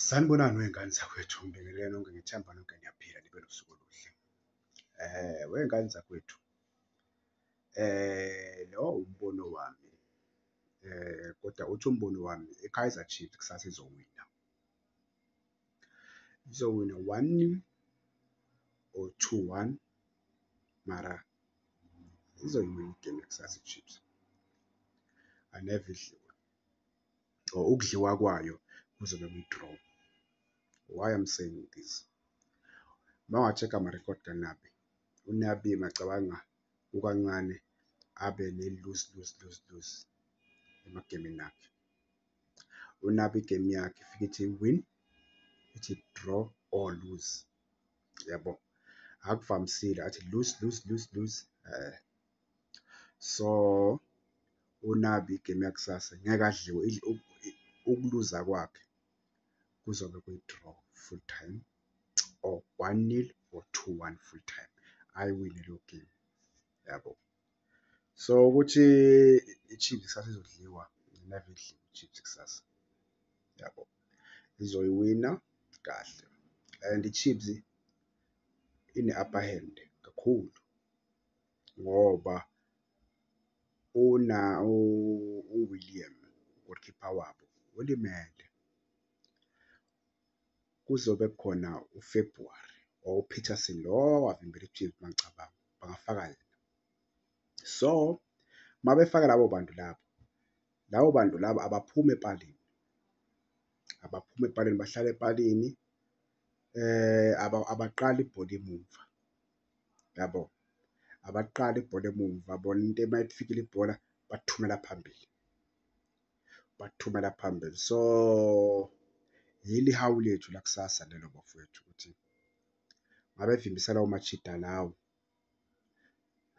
Sanibonani wey'ngane zakwethu, ngibingelele nonke ngethemba nonke niyaphila nibe nosuku oluhle. Um wey'ngane zakwethu um lo umbono wami um kodwa uthi umbono wami i-Kaizer Chiefs kusasa izowina. Izowina one nil or two one mara izoyiwina igame yakusasa i-Chiefs, angeve idliwe. or ukudliwa kwayo kuzobe kuyi-draw. Why I'm saying this? Mawacheka ama-record kaNabi, uNabi macabanga kukancane abe ne-lose lose lose lose emagemini akhe. UNabi igame yakhe ifike ithi win, ithi draw or lose. Yabo, akuvamisile athi lose lose lose lose. Eh. so unabi igemu yakusasa ngeke adliwe ukuluza kwakhe kuzobe kuyi-draw full time or one nil or two one full time ayiwine leyo game yabo so ukuthi i-chiefs kusasa izodliwa never idliwe i-chiefs kusasa yabo izoyiwina kahle and i-chiefs ine-upper hand kakhulu ngoba uWilliam u-goalkeeper wabo ulimele. Kuzobe kukhona uFebruary or uPeterson lo owavimbela iChiefs uma ngicabanga bangafaka yena. So uma befaka labo bantu labo, labo bantu labo abaphumi epalini, abaphumi epalini bahlale epalini abaqali ibhola emuva. yabo abaqali ibhola emumva bona into uma ifikile ibhola bathumela phambili bathumela phambili so yili hawu lethu lakusasa lelo bafowethu ukuthi ngabe vimbisa lawo machida lawo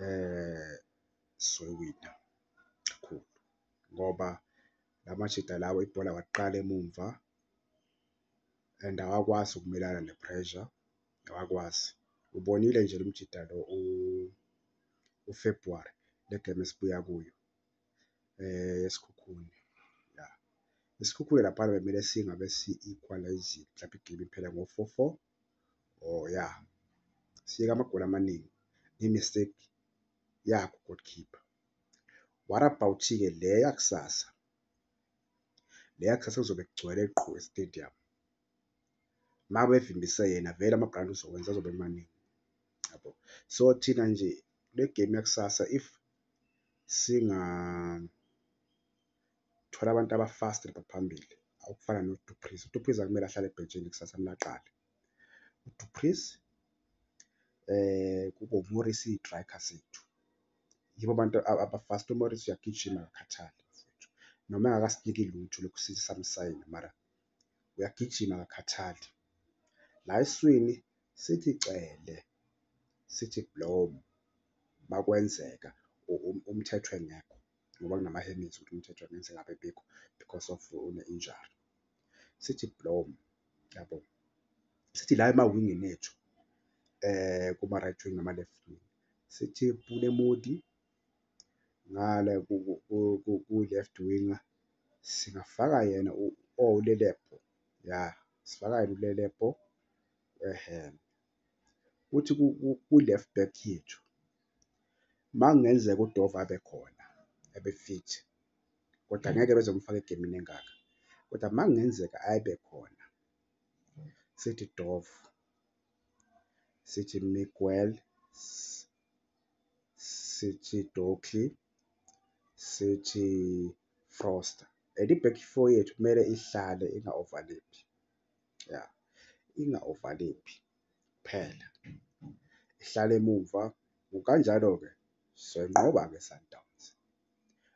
eh soyiwina kakhulu ngoba lamajita lawo ibhola waqala emumva and awakwazi ukumelana ne-pressure awakwazi ubonile nje lo mjida lo uFebruary le game esibuya kuyo eh esikhukhuni ya isikhukhule lapha bekumele singabe si-equalize mhlawumbe igame iphela ngo-4-4 oh ya siyeka amagoli amaningi nge-mistake yakho goalkeeper what about-ke le yakusasa le yakusasa kuzobe kugcwele qhu estadium mabevimbise yena vele ama-brand uzowenza azobe emaningi yabo so thina nje le game yakusasa if singathola abantu abafast baphambili awukufana nodupris udupris akumele ahlale ebhentshini kusasa kumele aqale udupris eh kubo Morris idrayiker sethu yibo abantu abafast uMorris uyagijima akakhathali noma engakasiniki lutho lokusisa samsayina mara uyagijima akakhathali. La eswini sithi cele, sithi blom makwenzeka umthetho engekho ngoba kunamaheminzi ukuthi umthetho engenzeka ngabe bikho because of une-injury. Sithi blom yabo, sithi la emawingini ethu kuma-right wing nama-left wing sithi pule modi ngale ku-left winger singafaka yena uLelepo, ya sifaka yena uLelepo kuthi ku-left back yethu makungenzeka uDove abe khona abe fit kodwa ngeke beze kumfaka egemini engaka, kodwa makungenzeka abe khona sithi Dove, sithi Miguel. sithi doki sithi froster and i-back four yethu kumele ihlale inga-overlaphi ya inga-overlaphi kuphela ihlale emumva ngokanjalo-ke soyinqoba-ke i-sundowns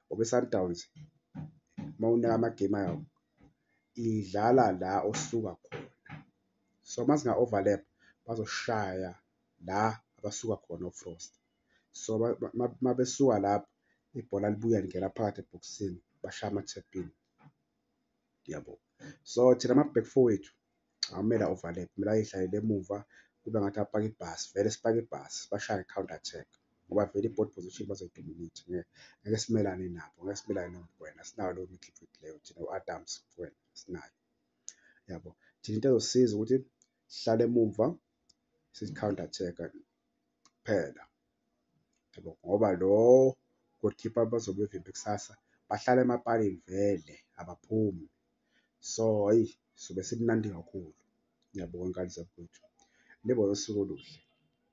ngoba i-sundowns uma unika amagemu ayo idlala la osuka khona so uma singa-overlap bazoshaya la abasuka khona oFrost. So uma besuka lapho ibhola libuya lingena phakathi ebhokisini bashaya ama-tapin yabo. So thina ama-back four wethu awumele a-overlap, kumele ayidlalele emuva kube ngathi apaka ibhasi, vele sipake ibhasi bashaye counter attack ngoba vele i-board position bazoyidominate ngeke ngeke simelane nabo ngeke simelane nomgwena sinayo leyo midfield leyo thina u-adams mgwena sinayo yabo thina into ezosiza ukuthi sihlale emumva sicounter attack kuphela yabo ngoba lo goalkeeper bazobe bevimbe kusasa bahlala emapalini vele abaphumi so ayi sobe simnandi kakhulu ngiyabonga ngane zakwethu nibe nosuku oluhle